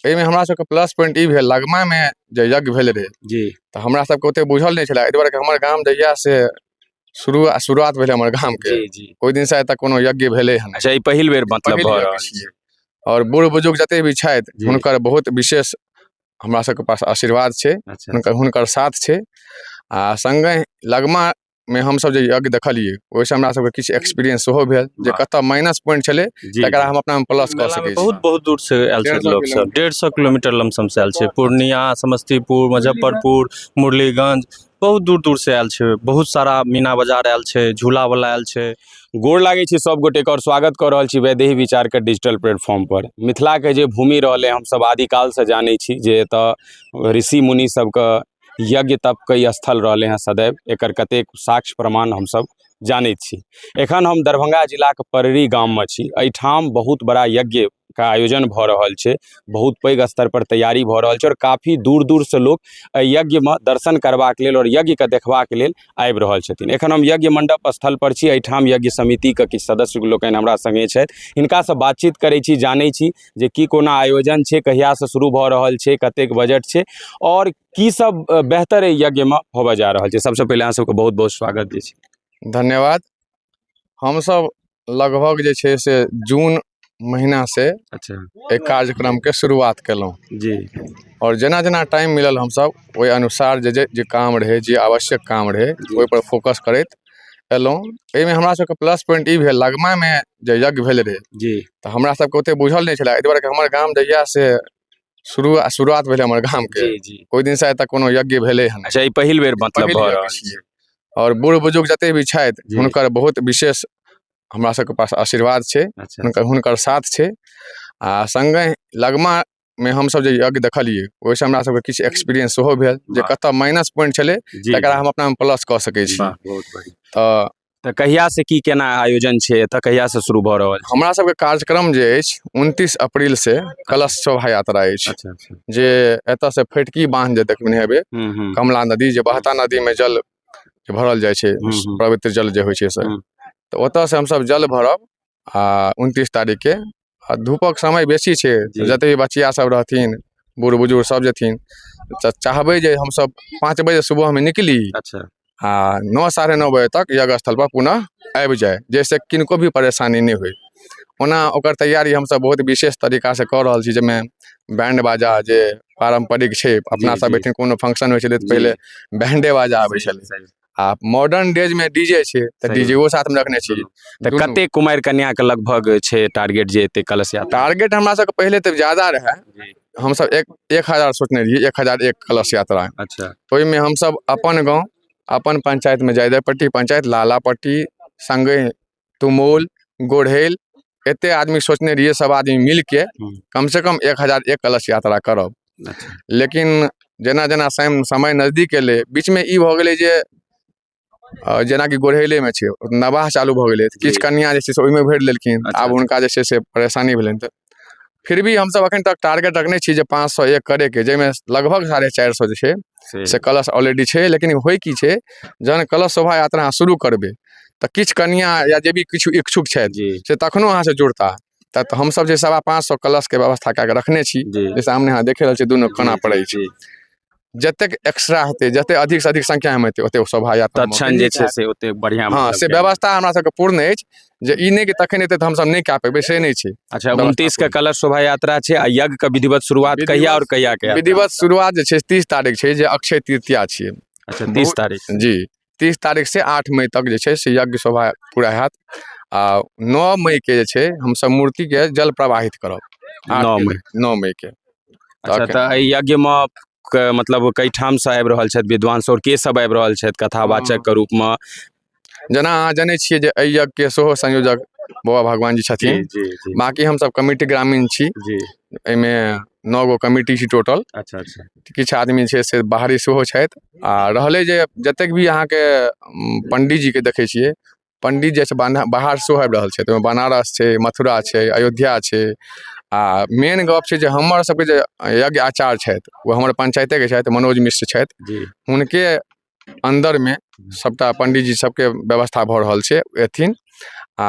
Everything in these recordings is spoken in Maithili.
एहिमे हमरा सबके प्लस पॉइंट ई भेल लगमामे जे यज्ञ भेल रहै जी तऽ हमरा सबके ओते बुझल नहि छलै एहि दुआरे कि हमर गाम जहिया से शुरू शुरुआत भेलै हमर गामके जी जी ओहि दिनसँ आइ तक कोनो यज्ञ भेलै हन अच्छा ई पहिल बेर मतलब पहिल भऽ बेर रहल के छियै आओर बूढ़ बुजुर्ग जते भी छथि जी। हुनकर बहुत विशेष हमरा सबके पास आशीर्वाद छै अच्छा हुनकर हुनकर साथ छै आ संगे लगमा मे हमसभ जे यज्ञ देखलियै ओहिसँ हमरा सभके किछु एक्सपीरियंस सेहो भेल जे वाह। कतय माइनस पॉइंट छलै जी तकरा हम अपना प्लस कऽ मेला सकै मे छी बहुत बहुत दूर से आयल डेढ़ छथि सौ लोक सब डेढ़ सौ किलोमीटर लमसम से आयल छै पूर्णिया समस्तीपुर मुजफ्फरपुर मुरलीगंज बहुत दूर दूर से आयल छै बहुत सारा मीना बाजार आयल छै झूला वाला आयल छै गोर लागै छी सभ गोटेके आओर स्वागत कऽ रहल छी वैदेही विचारके डिजिटल प्लेटफॉर्मपर मिथिलाके जे भूमि रहलै हमसभ आदिकालसँ जानै छी जे एतय ऋषि मुनि सभके यज्ञ तपके ई स्थल रहलै हँ सदैव एकर कतेक साक्ष्य प्रमाण हमसभ जानै छी एखन हम दरभंगा जिलाके पररी गाममे छी एहिठाम बहुत बड़ा यज्ञ के आयोजन भऽ रहल छै बहुत पैघ स्तर पर तैयारी भऽ रहल छै आओर काफी दूर दूर से लोक एहि यज्ञमे दर्शन करबाक लेल आओर यज्ञके देखबाक लेल आबि रहल छथिन एखन हम यज्ञ मण्डप स्थल पर छी एहिठाम यज्ञ समितिके किछु सदस्य लोकनि हमरा सङ्गे छथि हिनकासँ बातचीत करै छी जानै छी जे की कोना आयोजन छै कहियासँ शुरू भऽ रहल छै कतेक बजट छै आओर की सब अ, बेहतर एहि यज्ञमे होबऽ जा रहल छै सबसँ पहिले अहाँ सबके बहुत बहुत स्वागत जे छै धन्यवाद हमसब लगभग जे छै से जून महीना से अच्छा एहि कार्यक्रम के शुरुआत केलहुँ जी आओर जेना जेना टाइम मिलल हमसब ओहि अनुसार जे जे जे काम रहै जे आवश्यक काम रहै जी। ओहिपर फोकस करैत एलहुँ एहिमे हमरा सबके प्लस पॉइन्ट ई भेल लगमामे जे यज्ञ भेल रहै जी तऽ हमरा सबके ओतेक बुझल नहि छलै एहि दुआरे कि हमर गाम जहिआ से शुरू शुरुआत भेलै हमर गामके जी जी ओहि दिनसँ आइ तक कोनो यज्ञ भेलै हँ अच्छा ई पहिल बेर मतलब पहिल भऽ यज्ञ रहल छियै। आओर बूढ़ बुजुर्ग जते भी छथि जी। हुनकर बहुत विशेष हमरा सबके पास आशीर्वाद छै अच्छा हुनकर हुनकर साथ छै आ संगे लगमा मे हमसभ जे यज्ञ देखलियै ओहिसँ हमरा सभके किछु एक्सपीरियंस सेहो भेल जे वाह। कतय माइनस पॉइंट छलै जी तकरा हम अपनामे प्लस कऽ सकै छी वाह, बहुत बढ़िया। तऽ तऽ कहिया से की केना आयोजन छै एतऽ कहिया से शुरू भऽ रहल छै हमरा सभके कार्यक्रम जे अछि उनतीस अप्रैल से कलश शोभा यात्रा अछि अच्छा अच्छा जे एतय से फटकी बांध जे देखने हेबै हम्म, हम्म, कमला नदी जे बहता नदी मे जल जे भरल जाइ छै हम्म, हम्म। पवित्र जल जे होइ छै से हम्म। तऽ ओतय से हमसभ जल भरब आ उनतीस तारीखके आ धूपक समय बेसी छै जते बचिया सब रहथिन बुढ़ बुजुर्ग सब जेथिन तऽ चाहबै जे हमसब पाँच बजे सुबहमे निकली अच्छा आ नओ साढ़े नओ बजे तक यज्ञ स्थल पर पुनः आबि जाइ जाहिसँ किनको भी परेशानी नहि होइ ओना ओकर तैयारी हमसब बहुत विशेष तरीका से कऽ रहल छी जाहिमे बैंड बाजा जे पारम्परिक छै अपना जी, सब जी। एहिठाम कोनो फंक्शन होइ छलै तऽ जी। पहिले बैंडे बाजा आबै छलै सही- सही। आ मॉडर्न डेज में डीजे छै तऽ सही। डीजेओ साथ में रखने छी तऽ दुनू। कते कुमारि कन्या के लगभग छै टारगेट जे एते कलश यात्रा टारगेट हमरा सबके पहिले तऽ ज्यादा रहए जी। हमसब एक एक हजार सोचने रहियै एक हजार एक कलश यात्रा अच्छा ओहिमे हमसब अपन गाँव अपन पंचायतमे जायदापट्टी पंचायत लालापट्टी सङ्गे तुमौल गोढ़ैल एतेक आदमी सोचने रहियै सभ आदमी मिलि कऽ हूँ। कमसँ कम एक हजार एक कलश यात्रा करब अच्छा। लेकिन जेना जेना सम- समय नजदीक एलै बीचमे ई भऽ गेलै जे अ, जेनाकि गोढ़ैलेमे छै नवाह चालू भऽ गेलै तऽ जी। किछु कन्या जे छै से ओहिमे भरि लेलखिन अच्छा, आब हुनका जे छै से परेशानी भेलनि तऽ फिर भी हमसभ एखन तक टारगेट रखने छी जे पाँच सए एक करैके जाहिमे लगभग साढ़े चारि सए जे छै से से कलश ऑलरेडी छै लेकिन होइ की छै जहन कलश शोभा यात्रा अहाँ शुरू करबै तऽ किछु कनिया या जे भी किछु इच्छुक छथि जी से तखनो अहाँसँ जुड़ता तऽ तऽ हमसभ जे सवा पाँच सए कलशके व्यवस्था कए कऽ रखने छी जी जे सामने अहाँ देखे रहल छियै दुनू कोना जी, पड़ै छै जी, जतेक एक्स्ट्रा हेतै जतेक अधिकसँ अधिक संख्यामे हेतै ओतेक शोभा यात्रा तत्क्षण जे छै से ओतेक बढ़िआँ हँ मतलब से छै। व्यवस्था हमरा सबके पूर्ण अछि जे ई नहि कि तखन हेतै तऽ हमसब नहि कए पेबै से नहि छै अच्छा व्यवस्था उनतीस के कलश शोभा यात्रा छै आ यज्ञ के विधिवत शुरुआत विधिवत- कहिया और कहिया के हैत? विधिवत शुरुआत जे छै तीस तारीख छै जे अक्षय तृतीया छियै अच्छा तीस तारीख जी तीस तारीख से आठ मई तक जे छै से यज्ञ शोभा पूरा हैत आ नओ मई के जे छै हमसब मूर्ति के जल प्रवाहित करब आठ नओ के- मई। नओ मई के अच्छा तक- तऽ एहि यज्ञमे क- मतलब कई ठाम से आबि रहल छथि विद्वान सौर के सब आबि रहल छथि कथावाचक के रूप में जेना अहाँ जनै छियै जे एहि यज्ञ के सेहो संयोजक बाबा भगवान जी छथिन जी जी बाकी हमसब कमिटी ग्रामीण छी जी एहिमे नओ गो कमिटी छी टोटल अच्छा अच्छा किछु आदमी छै से बाहरी सेहो छथि आ रहलै जे जतेक भी अहाँके पण्डीजीके देखै छियै पण्डी जे छै बान्हा बाहर सेहो आबि रहल छै तऽ ओहिमे बनारस छै मथुरा छै अयोध्या छै आ मेन गप्प छै जे हमर सभके जे यज्ञ आचार्य छथि ओ हमर पञ्चायतेके छथि मनोज मिश्र छथि जी हुनके अन्दरमे सभटा पण्डीजी सभके व्यवस्था भऽ रहल छै एथिन आ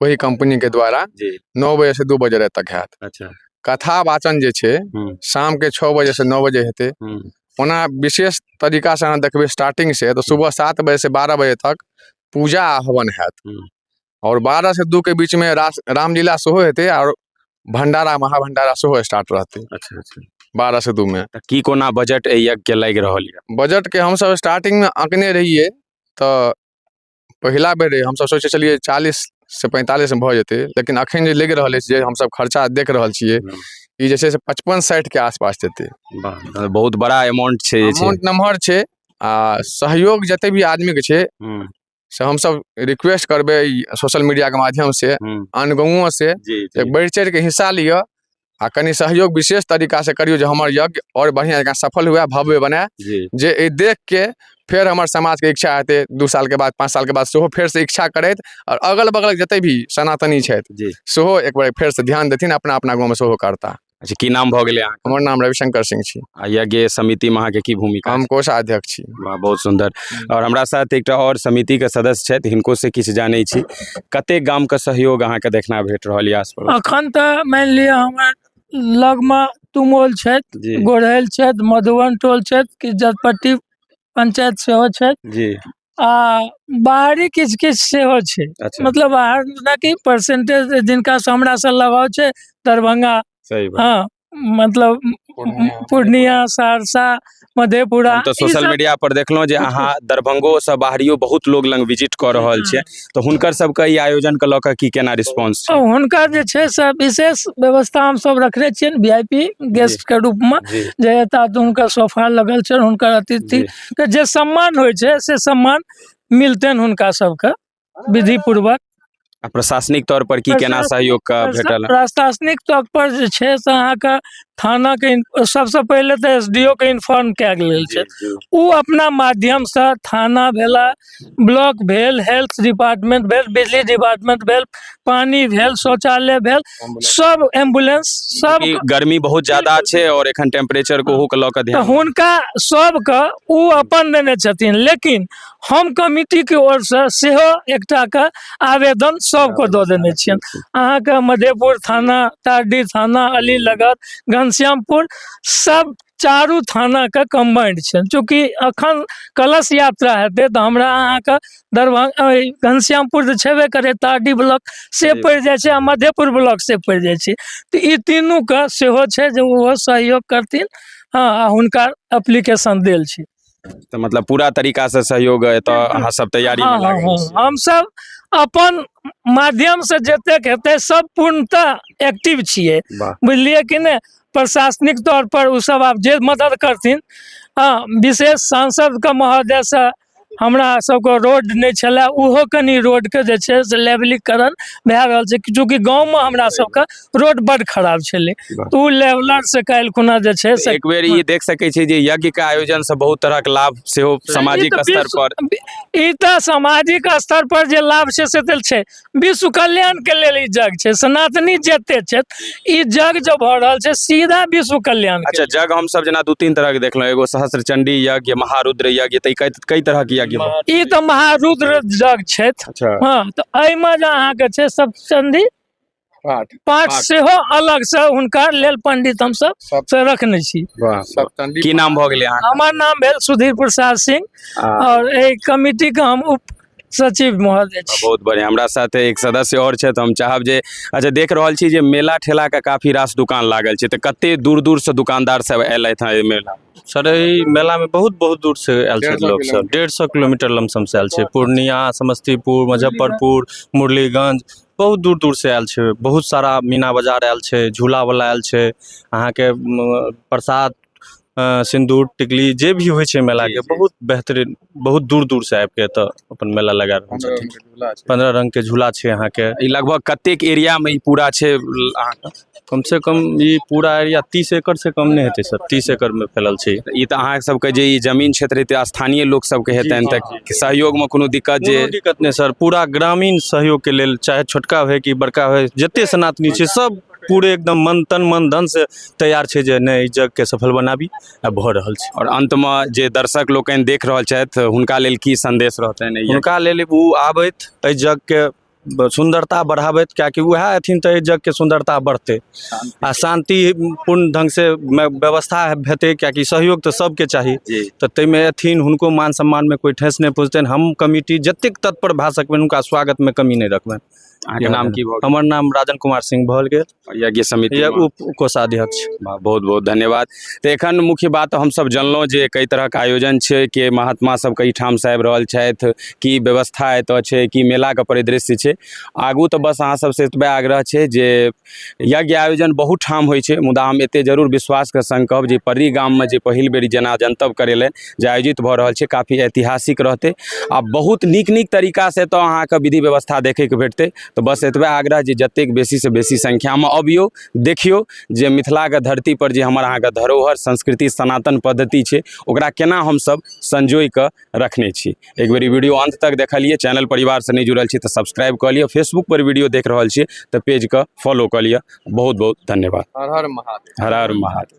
ओहि कम्पनी के द्वारा जी नओ बजे से दू बजे राति तक हैत अच्छा कथा वाचन जे छै हूँ। शाम के छओ बजे से नओ बजे हेतै हूँ। ओना विशेष तरीका से अहाँ देखबै स्टार्टिंग से तऽ सुबह सात बजे से बारह बजे तक पूजा आ हवन हैत हूँ। और बारह से दू के बीच में रास रामलीला सेहो हेतै और भंडारा महाभंडारा सेहो स्टार्ट रहतै अच्छा अच्छा बारह से दू में तऽ की कोना बजट एहि यज्ञ के लागि रहल यऽ बजट के हमसब स्टार्टिंग में अँकने रहियै तऽ पहिला बेर रहै हमसभ सोचै छलियै चालीस से पैंतालीस में भऽ जेतै लेकिन अखन जे लागि रहल अछि जे हमसभ खर्चा देख रहल छियै हम्म। ई जे छै से पचपन साठि के आसपास जेतै वाह, मतलब बहुत बड़ा अमाउंट छै जे छै अमाउंट नमहर छै आ सहयोग जते भी आदमी के छै हम्म, से हमसभ रिक्वेस्ट करबै सोशल मीडिया के माध्यम से हम्म, आन गाँवों से जी एक बढ़ि चढ़ि के हिस्सा लिअ आ कनि सहयोग विशेष तरीका से करियौ जे हमर यज्ञ और बढ़िया जकाँ सफल हुए भव्य बने जे एहि देख के फेर हमर समाज के इच्छा हेतै दू साल के बाद पाँच साल के बाद सेहो फेर से इच्छा करैत और अगल बगल जते भी सनातनी छथि सेहो एक बार फेर से ध्यान देथिन अपना अपना गाँव में सेहो करता अच्छा की नाम भऽ गेलै हमर नाम रविशंकर सिंह छी आ यज्ञ समितिमे अहाँके की भूमिका हम कोषाध्यक्ष छी वाह बहुत सुन्दर आओर हमरा साथ एकटा आओर समितिके सदस्य छथि हिनकोसँ किछु जानै छी कतेक गामके सहयोग अहाँके देखना भेट रहल यए आस पड़ोस अखन तऽ मानि लिअ हमर लगमे तुमौल छथि जी गोढ़ैल छथि मधुबन टोल छथि कि जतपट्टी पंचायत सेहो छथि जी आ बाहरी किछु किछु सेहो छै अच्छा मतलब बाहर जेनाकि परसेंटेज जिनकासँ हमरासँ लगाव छै दरभंगा सही बात हँ मतलब पूर्णिया सहरसा मधेपुरा हम तऽ ई सोशल सब- मीडिया पर देखलहुँ जे अहाँ दरभंगो से बाहरियो बहुत लोग लग विजिट कऽ रहल छियै तऽ हुनकर सबके ई आयोजन के लऽ कऽ की केना रिस्पांस छै हुनका जे छै से विशेष व्यवस्था हम सब रखने छियनि वी आई पी गेस्ट के रूप में जी जे एता तऽ हुनकर सोफा लगल छनि हुनकर अतिथि जी। के जे सम्मान होइ छै से सम्मान मिलतनि हुनका सबके विधि पूर्वक आ प्रशासनिक तौर पर की केना प्रशासन- सहयोग का भेटल प्रशासनिक तौर पर जे छै से अहाँके थाना के इन- सबसँ पहिले तऽ एस डी ओ के इन्फॉर्म कयल गेल छै ओ अपना माध्यमसँ थाना भेला ब्लॉक भेल हेल्थ डिपार्टमेंट भेल बिजली डिपार्टमेंट भेल पानी भेल शौचालय भेल सब एम्बुलेंस सब कि गर्मी बहुत ज्यादा छै और एखन टेम्परेचर को के लऽ कऽ तऽ ध्यान हुनका सबके ओ अपन देने छथिन लेकिन हम कमिटीके ओरसँ सेहो एकटाके आवेदन सभके दऽ देने छियनि अहाँके मधेपुर थाना तारडी थाना अली लगत घनश्यामपुर सब चारू थानाके कम्बाइंड छनि चूँकि एखन कलश यात्रा हेतै तऽ हमरा अहाँके दरभंगा अइ घनश्यामपुर तऽ छेबे करै तारडी ब्लॉक से जी। पड़ि जाइ छै आ मधेपुर ब्लॉक से पड़ि जाइ छै तऽ ई तीनूके सेहो छै जे ओहो सहयोग करथिन हँ आ हुनका एप्लीकेशन देल छै तऽ मतलब पूरा तरीका से सहयोग एतऽ अहाँ सब तैयारी हँ, में हँ, लागल हँ। छी। हमसब अपन माध्यम से जतेक हेतै सब पूर्णतः एक्टिव छियै वाह बुझलियै कि नहि प्रशासनिक तौर पर ओ सब आब जे मदद करथिन हँ विशेष सांसद के महोदय से हमरा सबके रोड नहि छलए ओहो कनि रोड के जे छै से लेवलीकरण भए रहल छै चूँकि गाँव मे हमरा सबके रोड बड खराब छलै वाह। तऽ ओ लेवलर से काल्हि खुना जे छै से एक बेर ई देख सकै छी जे यज्ञ के आयोजन से बहुत तरह के लाभ सेहो सामाजिक ई तऽ स्तर विश्व- पर ई तऽ सामाजिक स्तर पर जे लाभ छै से तऽ छै विश्व कल्याण के लेल ई जग छै सनातनी जते छथि ई जग जो भऽ रहल छै सीधा विश्व कल्याण के अच्छा जग हम सब जेना दू तीन तरह के देखलहुँ एगो सहस्त्र चंडी यज्ञ महारुद्र यज्ञ तऽ ई कई कई तरह के यज्ञ भऽ- लेल। ई तऽ महारुद्र जग छथि अच्छा हाँ तऽ एहिमे जे अहाँके छै सब चंदी पाठ पाठ पाठ। सेहो अलग से हुनका लेल पंडित हम सब सब- से रखने छी वाह सप्तंडी की नाम भऽ गेलै अहाँ हमर नाम भेल सुधीर प्रसाद सिंह आ, और एहि कमिटी के हम उप सचिव महोदय छी बहुत बढ़िया हमरा साथ एक सदस्य और छथि हम चाहब जे अच्छा देख रहल छी जे मेला ठेला के काफी रास दुकान लागल छै तऽ कते दूर दूर से दुकानदार सब एलथि हँ एहि मेला सर एहि मेलामे बहुत बहुत दूर से आयल डेढ़ छथि सौ लोक सब डेढ़ सौ किलोमीटर लमसम से आयल छै पूर्णिया समस्तीपुर मुजफ्फरपुर मुरलीगंज बहुत दूर दूरसँ आयल छै बहुत सारा मीना बाजार आयल छै झूलावला आयल छै अहाँके प्रसाद सिन्दूर टिकली जे भी होइ छै मेलाके बहुत बेहतरीन बहुत दूर दूरसँ आबि कऽ एतय अपन मेला लगा रहल छथिन पन्द्रह रङ्गके झूला छै अहाँके ई लगभग कतेक एरियामे ई पूरा छै अहाँके कमसँ कम ई पूरा एरिया तीस एकड़सँ कम नहि हेतै सर तीस एकड़मे फैलल छै ई तऽ अहाँ सबके जे ई जमीन क्षेत्र हेतै स्थानीय लोक सबके हेतनि जी, हँ, तऽ सहयोगमे कोनो दिक्कत जे कोनो दिक्कत नहि सर पूरा ग्रामीण सहयोगके लेल चाहे छोटका होय कि बड़का होय जते सनातनी छै सब पूरे एकदम मन तन मन धन से तैयार छै जे नहि ई जगके सफल बनाबी आ भऽ रहल छै आओर अन्तमे जे दर्शक लोकनि देख रहल छथि हुनका लेल की संदेश रहतनि एहि हुनका लेल ओ आबथि एहि जगके सुन्दरता बढ़ाबैत किएकि उएह अयथिन तऽ एहि जगके सुन्दरता बढ़तै आ शान्ति पूर्ण ढङ्गसँ व्यवस्था हेतै किएकि सहयोग तऽ सभके चाही तऽ ताहिमे अयथिन हुनको मान सम्मानमे कोइ ठेस नहि पहुँचतनि हम कमिटी जतेक तत्पर भए सकबनि हुनका स्वागतमे कमी नहि रखबनि अहाँके नाम की भऽ गेल हमर नाम राजन कुमार सिंह भऽ गेल यज्ञ समिति या उप कोषाध्यक्ष वाह, बहुत बहुत धन्यवाद तऽ एखन मुख्य बात हमसभ जनलहुँ जे कई तरहक आयोजन छै के महात्मा सब कई ठामसँ आबि रहल छथि की व्यवस्था एतऽ छै की मेलाके परिदृश्य छै आगू तऽ बस अहाँ सबसँ एतबे आग्रह छै जे यज्ञ आयोजन बहुत ठाम होइ छै मुदा हम एतेक जरूर विश्वासके सङ्ग कहब जे पर्री गाममे जे पहिल बेर जेना जनतब करेलनि जे आयोजित भऽ रहल छै काफी ऐतिहासिक रहतै आ बहुत नीक नीक तरीकासँ एतऽ अहाँके विधि व्यवस्था देखैके भेटतै तऽ बस एतबे आग्रह जे जतेक बेसीसँ बेसी संख्यामे अबियौ देखियौ जे मिथिलाके धरतीपर जे हमर अहाँके धरोहर संस्कृति सनातन पद्धति छै ओकरा केना हमसभ संजोइ कऽ रखने छी एक बेर ई वीडियो अन्त तक देखलियै चैनल परिवारसँ नहि जुड़ल छी तऽ सब्सक्राइब कऽ लिअ फेसबुकपर वीडियो देख रहल छियै तऽ पेजके फॉलो कऽ लिअ बहुत बहुत धन्यवाद हर हर महादेव हर हर महादेव